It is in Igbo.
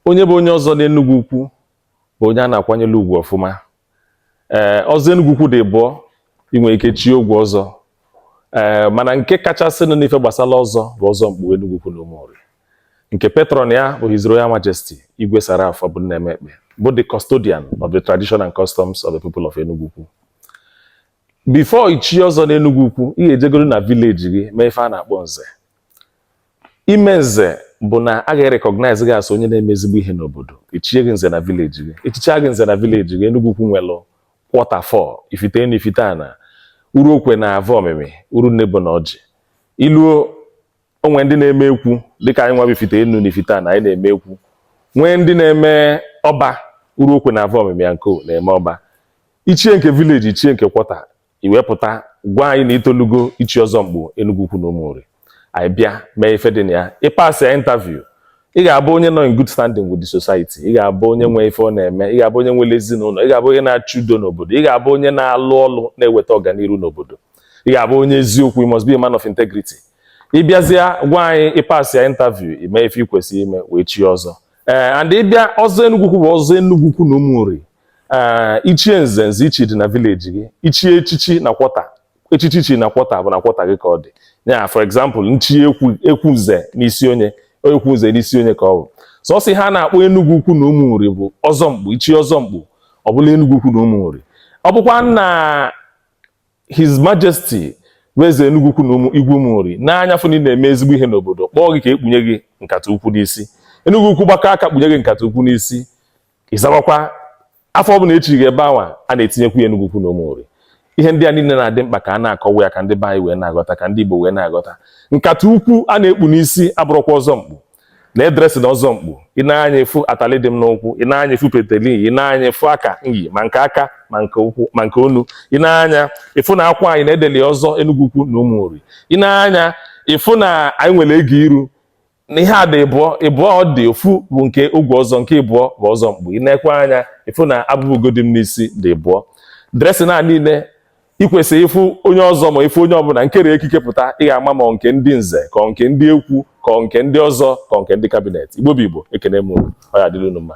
onye bụ onye ọzọ n'Enugwu Ukwu bụ onye a na-akwanyere ugwu ọfụma ee ọzọ Enugwu Ukwu dị ịbụọ ị nwere ike chie ogwe ọzọ ee mana nke kachasịnụ n'ife gbasara ọzọ bụ ọzọ mkpu Enugwu Ukwu na Ụmụnri nke patron ya bụ His Royal Majesty Igwe Sir Ralph Obumneme Ekpeh bụ the custodian of the tradition and customs of the people of Enugwu Ukwu before ichi ọzọ n'Enugwu Ukwu ị ga-ejegoro na village gị mee ife a na-akpọ nze ime nze bụ na a ga-recognize gị as onye na-eme ezigbo ihe n'obodo e chie gị nze na village gị e chicha gị nze na village gị Enugwu Ukwu nwelụ quarter four Ifite Enu Ifite Ana Uruokwe na Avomimi Urunnebo na Orji i luo o nwee ndị na-eme ekwu dịka anyị nwa bụ Ifite Enu na Ifite Ana anyị na-eme ekwu nwee ndị na-eme ọba Uruokwe na Avomimi ya nko na-eme ọba i chie nke village i chie nke quarter i wee pụta gwa anyị na i tolugo ichi ọzọ mkpu Enugwu Ukwu na Ụmụnri anyị bịa mee ife dị na ya ị pasịa interview ị ga-abụ onye nọ in good standing with the society ị ga-abụ onye nwe ife ọ na-eme ị ga-abụ onye nwere ezinụlọ ị ga-abụ onye na-achụ udo n'obodo ị ga-abụ onye na-alụ ọlụ na-eweta ọganiru n'obodo ị ga-abụ onye eziokwu you must be a man of integrity ị bịazịa gwa anyị ị pasịa interview i mee ife ị kwesịrị ime wee chi ọzọ ee eh, and ị bịa ọzọ Enugwu Ukwu bụ ọzọ Enugwu Ukwu na Ụmụnri ee i chie nze nze i chi dị na village gị i chie echichi na quarter echichi i chi na quarter bụ na quarter gị ka ọ dị ya for example m chi ekwu ekwu nze n'isi onye ekwu nze n'isi onye ka ọ bụ sọsọ ihe a na-akpọ Enugwu Ukwu na Ụmụnri bụ ọzọ mkpu i chi ọzọ mkpu ọ bụlụ Enugwu Ukwu na Ụmụnri ọ bụkwa na his majesty bụ Eze Enugwu Ukwu na ụmụ Igwe Ụmụnri nee anya fụ na ị na-eme ezigbo ihe n'obodo kpọọ gị ka e kpunye gị nkata ukwu n'isi Enugwu Ukwu gbakọ aka kpunye gị nkata ukwu n'isi ị zawakwa afa ọbụla e chi gị ebe anwa a na-etinyekwu ya Enugwu Ukwu na Ụmụnri ihe ndị a niile na-adị mkpa ka a na-akọwa ya ka ndị be anyị wee na-aghọta ka ndị Igbo wee na-aghọta nkata ukwu a na-ekpu n'isi a bụrụkwa ọzọ mkpu na-edresi na ọzọ mkpu i nee anya ị fụ atali dị m n'ụkwụ i nee anya ị fụ peteli i nee anya ị fụ aka anyị ma nke aka ma nke ụkwụ ma nke onu i nee anya ị fụ na akwa anyị na e deli ọzọ Enugwu Ukwu na Ụmụnri i nee anya ị fụ na anyị nwere ego iru na ihe a dị ịbụọ ịbụọ ọ dị ofu bụ nke ogwe ọzọ nke ịbụọ bụ ọzọ mkpu i neekwa anya ị fụ na abụba ugo dị m n'isi dị ịbụọ dressing a niile i kwesị ịfụ onye ọzọ ma ị fụ onye ọbụla kere ekike pụta ị ga-ama ma nke ndị nze ka nke ndị ekwu ka nke ndị ọzọ ka nke ndị cabinet Igbo bụ Igbo ekene m unu ọ ya-adịlị unu mma